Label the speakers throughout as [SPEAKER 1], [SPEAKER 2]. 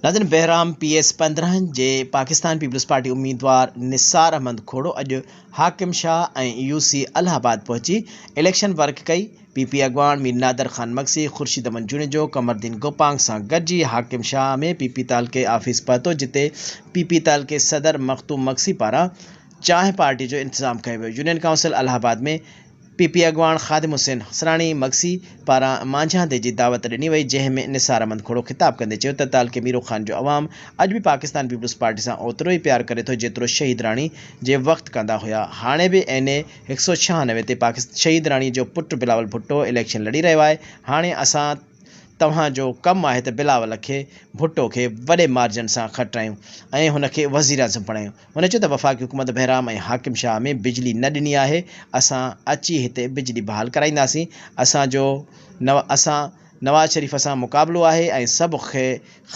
[SPEAKER 1] ناظرين Bahram P S پندرهن جي پاڪستان پيپلز پارٽي اميدوار نثار احمد کوڙو اڄ حاڪم شاهه ۽ يو سي الهه آباد پهچي اليڪشن ورڪ ڪئي پي پي اڳواڻ مير نادر خان مگسي، خورشيد احمد جوڻيجو، قمردين گوپانگ سان گڏجي حاڪم شاهه ۾ پي پي تعلقي آفيس پهتو جتي پي پي تعلقي صدر مخدوم مگسي پاران چانهه پارٽي جو انتظام ڪيو ويو. Union council Allahabad ۾ P P اڳواڻ خادم حسين حصراڻي مگسي پاران مانجهاندي جي دعوت ڏني وئي جنهن ۾ نثار احمد کهڙو خطاب ڪندي چيو ته تعلقي ميرو خان جو عوام اڄ به پاڪستان پيپلز پارٽي سان اوترو ئي پيار ڪري ٿو جيترو شهيد راڻي جي وقت ڪندا هيا هاڻي به اين اي هڪ سؤ ڇهانوي تي پاڪستان شهيد راڻي جو پٽ بلاول ڀٽو اليڪشن لڙي رهيو آهي هاڻي اسان توهان جو ڪم آهي ته بلاول کي ڀٽو کي وڏي مارجن سان کٽرايون ۽ هن کي وزيراعظم بڻايون هن چيو ته وفاقي حڪومت بهرام ۽ حاڪم شاهه ۾ بجلي نه ڏني آهي اسان اچي هتي بجلي بحال ڪرائينداسين اسان جو اسان نواز شريف سان مقابلو آهي ۽ سڀ کي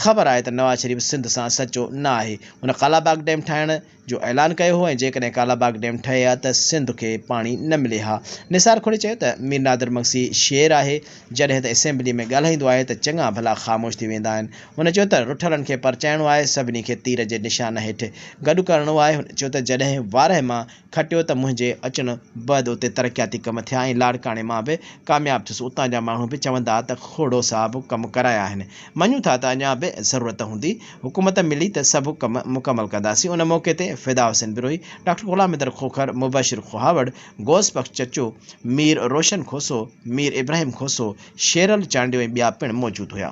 [SPEAKER 1] خبر آهي ته نواز شريف سنڌ سان سچو نه آهي هن ڪالاباغ ڊيم ٺاهڻ جو اعلان ڪيو هو ۽ جيڪڏهن ڪالاباغ ڊيم ٺهي ها ته سنڌ کي پاڻي نه ملي ها. نثار کهڙي چيو ته مير نادر مگسي شير آهي، جڏهن ته اسيمبلي ۾ ڳالهائيندو آهي ته چڱا ڀلا خاموش ٿي ويندا آهن. هن چيو ته رٺلن کي پرچائڻو آهي، سڀني کي تير جي نشان هيٺ گڏ ڪرڻو آهي. هن چيو ته جڏهن وارهه مان کٽيو ته منهنجي اچڻ بعد اتي ترقياتي ڪم ٿيا ۽ لاڙڪاڻي مان به ڪامياب ٿيس، اتان جا ماڻهو به چوندا ته کهڙو صاحب ڪم ڪرايا آهن، مڃون ٿا ته اڃا به ضرورت هوندي. حڪومت ملي ته سڀ ڪم مڪمل ڪنداسين ان موقعي تي فدا حسين بروهي، ڊاڪٽر غلام مدر کوکر، مبشر کوهاوڙ، غوث بخش چچو، مير روشن کوسو، مير ابراهيم کوسو، شيرل چانڊيو ۽ ٻيا پڻ موجود هيا.